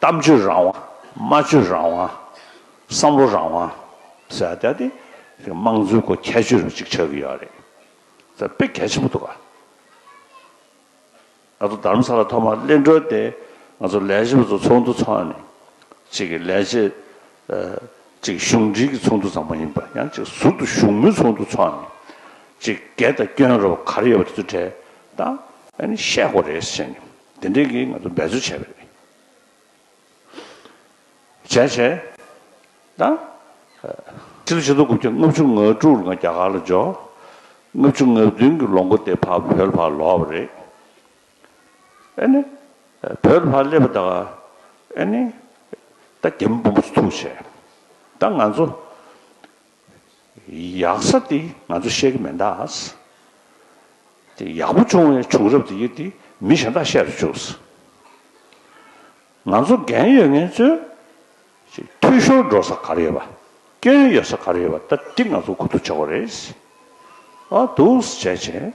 གཏམ་བརྗོད་རང་དབང། སྨྲ་བརྗོད་རང་དབང། བསམ་བློ་རང་དབང། ཟེར་བ་དེ་དམངས་གཙོའི་སྒོ་ཁྱད་ཆོས་རེད་ཅིག་ཆགས་ཀྱི་ཡོད་རེད། དཔེ་གལ་ཆེན་པོ་འདུག་ག། ང་ཚོ་དར་མ་ས་ལ་ཐོག་མར་གླིང་སྒྲོལ་དེ་ང་ཚོ་ལས་བྱེད་པ་ཚོ་ཚོགས་འདུ་ཚོགས་ནས་ཅིག་གི་ལས་བྱེད། ཅིག་གཞུང་འབྲེལ་གྱི་ཚོགས་འདུ་ཙམ་མ་ཡིན་པར་ཡང་ཅིག་ཟུར་དུ་བཞུགས་མོལ་ཚོགས་འདུ་ཚོགས་ནས་ཅིག་སྒེར་དང་སྐྱོན་རེ་བ་ག་རེ་ཡོད་པ་དེ་ཚོ་དྲན་དང། ཨ་ནི་བཤད་དགོས་རེད་ཟེར་ནས། འདི་འདྲས་ཀྱིས་ང་ཚོ་འབད་རྩོལ་བྱས་པ་རེད། བྱས་བྱས། ད། ཕྱི་ལོ་ཆིག་སྟོང་དགུ་བརྒྱ་ལྔ་བཅུ་ང་དྲུག་ལ་ང་རྒྱ་གར་ལ་འབྱོར། ལྔ་བཅུ་ང་བདུན་གྱི་ལོ་མགོ་དེ་བར་བོད་ལ་བར་ལོག་པ་རེད། ཨེ་ནི། བོད་ལ་བར་སླེབས་པ་དང། ཨེ་ནི། ད་རྒྱ་མི་དཔོན་པོ་ཚོ་ཐུགས་ཆེ། ད་ང་ཚོ། ཡག་ས་དེ་ང་ཚོ་བཤད་ཀྱི་མེད་འདག། དེ་ཡག་པོ་བྱུང་བའི་བྱུང་རབས་དེ་ཡོད་དེ་མི་གཞན་དག་བཤད་དུ་བཅུག། ང་ཚོ་འགན་ཡོད་ངན་ཚོས་འཐུས་ཤོར་འགྲོ་ས་ག་རེ་ཡོད་པ། སྐྱོན་ཡོད་ས་ག་རེ་ཡོད་པ་ད་ཏིག་ང་ཚོ་གོ་ཐུབ་ཆགས་དགོས་རེད། འདུག་བྱས་བྱས།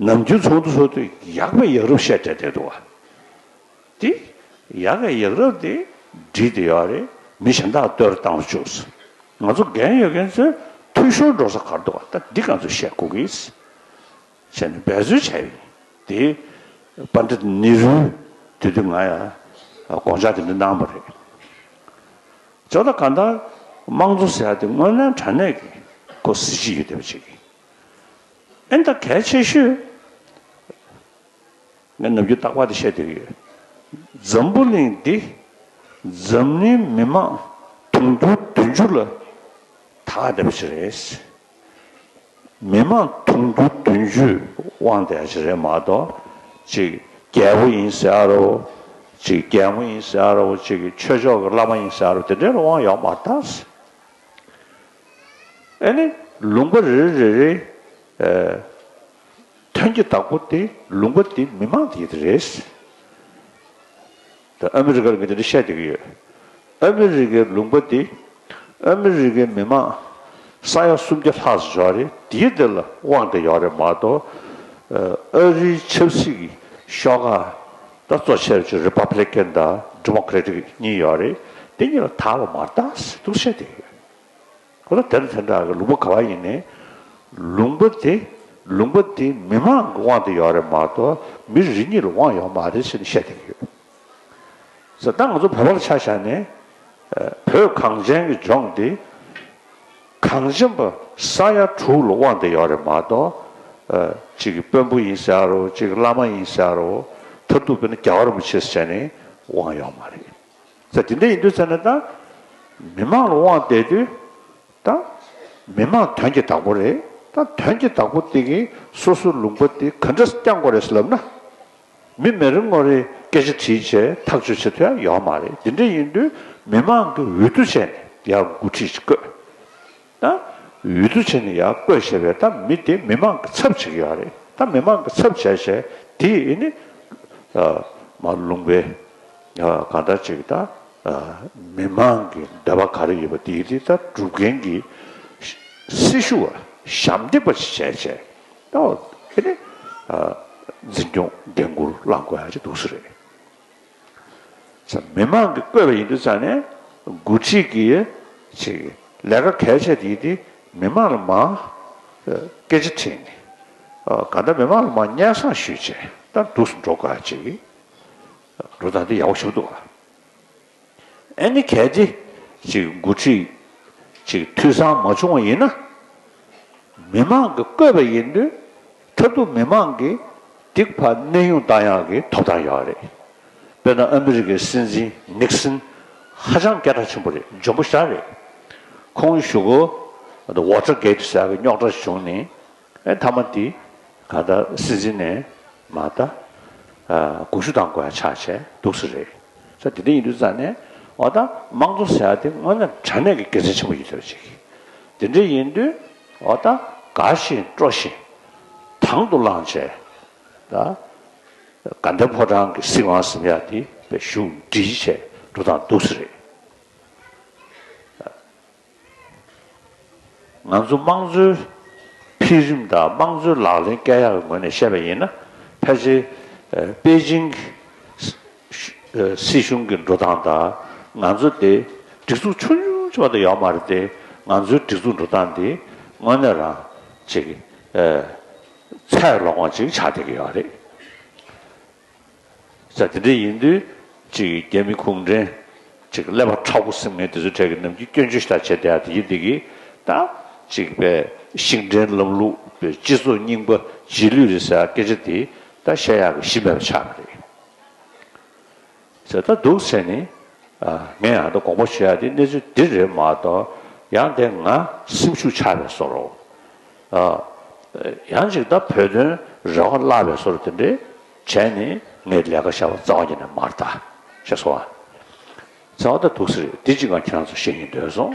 ནམ་རྒྱུན་ཚོགས་འདུ་ཚོགས་དུས་ཡག་པའི་ཡག་རབས་བཤད་བསྡད་འདུག་བ། དེ་ཡག་གི་ཡག་རབས་དེ་བསྒྲིགས་ཏེ་ཡོད་རེད་མི་གཞན་དག་ལྟོས་ར་བཏང་བཅུག་སོང། ང་ཚོ་འགན་ཡོད་མཁན་ཚོས་འཐུས་ཤོར་འགྲོ་ས་གར་འདུག་བ་ལྟ་འདི་ག་ཚོད་བཤད་དགོས་ཀྱི་བྱས་ནས་འབད་རྩོལ་བྱས་ཡིན་དེ། པ་འདྲ་ནི་རུལ་དེ་དུས་ང་ཡང་དགོངས་འཇགས་དེ་འདྲ་གནང་བ་རེད། ཇོ་ད་ག་ད་དམངས་གཙོ་ཟེར་ཡ་དེ་དངོས་གནས་དྲ་གནས་ཀྱི་སྐོར་གཟི་བརྗིད་ཡོད་བསྡད་པ་ཅིག་ཡིན། ཨེ་འདྲ་གལ་ཆེ་ཤོས། ངས་ནུབ་རྒྱུད་སྟག་ལྤགས་འདི་བཤད་འདོད་ཡོད། འཛམ་བུ་གླིང་འདི་འཛམ་གླིང་མི་མང་དུང་ཕྱུར་བདུན་ཅུ་ལ་དྭགས་བསྡད་པ་ཞིག་རེད། མི་མང་དུང་ཕྱུར་བདུན་ཅུའི་དབང་བསྡད་ཞིག་རེད་མ་གཏོགས་ཅིག་རྒྱལ་པོ་ཡིན་ཟེར་ཨ་རོ། ཅིག་རྒྱལ་མོ་ཡིན་ཟེར་ཨ་རོ་ཅིག་ཆོས་ཕྱོགས་ཀྱི་བླ་མ་ཡིན་ཟེར་ཨ་རོ་དེ་འདྲའི་དབང་ཡོད་མ་རྟགས། ཨེ་ནི། ལུང་པ་རེ་རེ་རེ་རེའིཐུན་གྱི་བདག་པོ་དེ་ལུང་པ་དེ་མི་མང་དེ་དེ་རེད། ད་ཨ་མི་རི་ཀར་ངས་དེ་འདྲ་བཤད་བསྡད་ཀྱི་ཡོད། ཨ་མི་རི་ཀའི་ལུང་པ་དེ་ཨ་མི་རི་ཀའི་མི་མང་ས་ཡ་སུམ་བརྒྱ་ལྷག་ཟིག་ཡོད་རེད་དེའི་དེ་ལ་དབང་དེ་ཡོད་རེད་མ་གཏོགས་ཨ་རིའི་ཆབ་སྲིད་ཀྱི་ཤོག་ཁག་ད་གཙོ་ཆེར་ཆེར་རི་པ་བྷི་ལེ་ཀན་དང་ལྡི་མོ་ཀི་རེ་ཏིག་གཉིས་ཡོད་རེད་དེ་གཉིས་ལ་དྭགས་ལ་མར་དྭགས་ཟེར་ཐུགས་ཤད་བསྡད་ཀྱི་ཡོད། ཁོ་ལ་དེར་མཚན་བསྒྲགས་ཀྱི་ལུང་པ་ག་བ་ཡིན་ནི། ལུང་པ་དེ་ལུང་པ་དེ་མི་མང་གི་དབང་དུ་ཡོད་རེད་མ་གཏོགས་མི་རེ་གཉིས་ལ་དབང་ཡོད་མ་རེད་ཟེར་ནས་བཤད་བསྡད་ཀྱི་ཡོད། ད་ང་ཚོ་བོད་པ་ལ་ཆ་བཞག་ནས་བོད་གངས་ཅན་གྱི་ལྗོངས་འདི་གངས་ཅན་པ་ས་ཡ་དྲུག་ལ་དབང་དུ་ཡོད་རེད་མ་གཏོགས་གཅིག་གི་དཔོན་པོ་ཡིན་ཟེར་ཡ་རོ་གཅིག་གི་བླ་མ་ཡིན་ཟེར་ཡ་རོ་མཐར་ཐུག་བོད་ནི་རྒྱ་གར་མི་ཆེ་ཟེར་ནས་དབང་ཡོད་མ་རེད། ས་དེ་འདྲ་ཡིན་དུས་ཚེ་ན་ད། མི་མང་ལ་དབང་བསྡད་དུས་ད། མི་མང་དོན་གྱི་བདག་པོ་རེད་ད་དོན་གྱི་བདག་པོ་དེ་གིས་སོ་སོའི་ལུང་པ་དེ་ག་འདྲ་བསྐྱང་དགོས་རེད་ལབ་ན། མི་མེ་རི་ངོ་རེས་སྐད་ཆ་དྲིས་བྱས་ཐག་གཅོད་བྱེད་ཐུབ་ཡ་ཡོད་མ་རེད་དེ་འདྲ་ཡིན་དུས་མི་མང་གིས་འོས་བསྡུ་བྱས་ནས་ཡར་འགོ་ཁྲིད་བཀོད། དང། འོས་བསྡུ་བྱས་ནས་ཡར་བསྐོས་ཞེས་པའི་ད་མི་དེ་མི་མང་གི་ཚབ་བྱེད་ཀྱི་ཡོད་རེད་ད་མི་མང་གི་ཚབ་བྱས་བྱས་དེ་ནི། མ་ལུང་པའི། གང་ལྟར་ཅིག་ད། མི་མང་གི་འདོད་པ་ག་རེ་ཡོད་པ་དེ་དེ་ད་སྒྲུབ་མཁན་གྱི། སྲི་ཞུ་བ་ཞབས་འདེགས་པ་ཞིག་བྱས་བྱས་ད། འཛིན་སྐྱོང་འགན་འཁུར་བླང་དགོས་ཡ་ཅིག་འདུག་སྲིད་རེད། མི་མང་གིས་བསྐོས་པ་ཡིན་འདུག་ཙང་ནས་འགོ་ཁྲིད་ཀྱིས་ལས་ཀ་གལ་ཆེ་དེ་དེ་མི་མང་ལ་མང་སྐད་ཆ་དྲིས་ནས་གང་ལྟར་མི་མང་ལ་མང་སྙན་སང་ཞུས་བྱས་ལྟར་འདུག་སུ་འགྲོ་དགའ་ཅིག་འགྲོ་ད་འདི་ཡག་པོ་ཞུགས་འདུག་ཨ་ནི་གལ་ཏེ་འགོ་ཁྲིད་འཐུས་ཚང་མ་བྱུང་བ་ཡིན་ན་མི་མང་གིས་བསྐོས་པ་ཡིན་འདུག་མཐར་ཐུག་མི་མང་གི་སྡིག་པ་གནས་དབྱུང་བཏང་ཡག་གི་ཐོབ་ཐང་ཡག་རེད། དཔེར་ན་ཨ་མི་རི་ཀའི་སྲིད་འཛིན་ནིག་སིན་ཧ་ཅང་སྐད་གྲགས་ཆེན་པོ་རེད་འཇོན་པོ་ཤ་རེད། ཁོང་བཞུགས་གོ་ཝོཏར་གེ་ཏི་ཟེར་བའི་རྙོག་དྲ་བྱུང་ནས་མཐའ་མ་དེ་ག་ལྟར་སྲིད་འཛིན་ནས་མ་ད་དགུག་ཤུ་དང་དགོས་ཡ་ཆགས་བྱས་འདུག་ས་རེད། ས་དེ་དེ་ཡིན་དུས་རྩ་ནས་འོ་ད་དམངས་གཙོ་ཟེར་ཡ་དེ་དངོས་གནས་དྲ་གནས་ཀྱི་དགེ་མཚན་ཆེན་པོ་ཡོད་ཚོད་ཅིག་དེ་འདྲ་ཡིན་དུས་འོ་ད་དགའ་བཞིན་སྤྲོ་བཞིན་དང་དུ་བླངས་བྱས། དགའ་ལྡན་ཕོ་བྲང་གི་སྲིད་དབང་གཟིམ་ཡག་འདི་བས་བཞུགས་འདྲིས་བྱས་འགྲོ་དང་འདུག་ས་རེད། ང་ཚོ་དམངས་གཙོའི་འཕེལ་རིམ་དང་དམངས་གཙོའི་ལག་ལེན་བསྐལ་ཡག་གི་ངོས་ནས་བཤད་པ་ཡིན་ན་ཕལ་ཆེར་པེ་ཅིང་གི་སྲིད་གཞུང་གི་འགྲོ་སྟངས་དང་ང་ཚོ་འདི་སྒྲིག་འཛུགས་ཆུང་ཆུང་ཆེ་བ་དང་ཡག་མ་རེད་དེ་ང་ཚོའི་སྒྲིག་འཛུགས་འགྲོ་སྟངས་འདི་དངོས་གནས་རང་ཅིག་ཚད་ལོག་མ་ཅིག་ཆགས་བསྡད་ཀྱི་ཡོད་རེད། ས་དེ་འདྲ་ཡིན་དུས་ཅིག་རྒྱ་མི་གུང་བྲན་ཅིག་ཀླད་པ་ཁྲག་པོ་སེམས་ངན་འདི་ཚོའི་གྲས་ཀྱི་ནམ་རྒྱུན་སྐྱོན་བརྗོད་ཞིག་ལྟར་བྱས་བསྡད་ཡ་དེ་ཡིན་བསྡད་ཀྱི་ད་ཅིག་པའི་ཤིང་འབྲས་ལམ་ལུགས་པའི་སྤྱི་ཚོགས་རྙིང་པ་རྗེས་ལུས་རེད་ཟེར་སྐད་ཆ་འདི་ད་བཤད་ཡག་གི་གཞི་མེད་པ་ཆགས་ཀྱི་རེད། ཟེར་ད་འདུག་ཟེར་ནས། ངས་ཡང་དགོངས་པ་ཞུ་ཡག་འདི་གནས་ཚུལ་འདི་རེད་མ་གཏོགས་ཡང་དེ་ང་སེམས་ཤུགས་ཆག་པའི་སོ་རོ། ཡང་ཅིག་ད་བོད་དོན་རེ་བ་བརླག་པའི་སོ་རོ་དེ་འདྲས་བྱས་ནས་ངས་ལས་ཀ་ཤ་བ་རྩ་བ་ཉིད་ནས་མར་བལྟ། ཞེས་སོ། ཟེར་བ་ད་འདུག་ཟེར་རེད་འདི་གཅིག་ང་ཁྱེད་རང་ཚོ་ཤེས་ཀྱིན་སྡོད་སོང།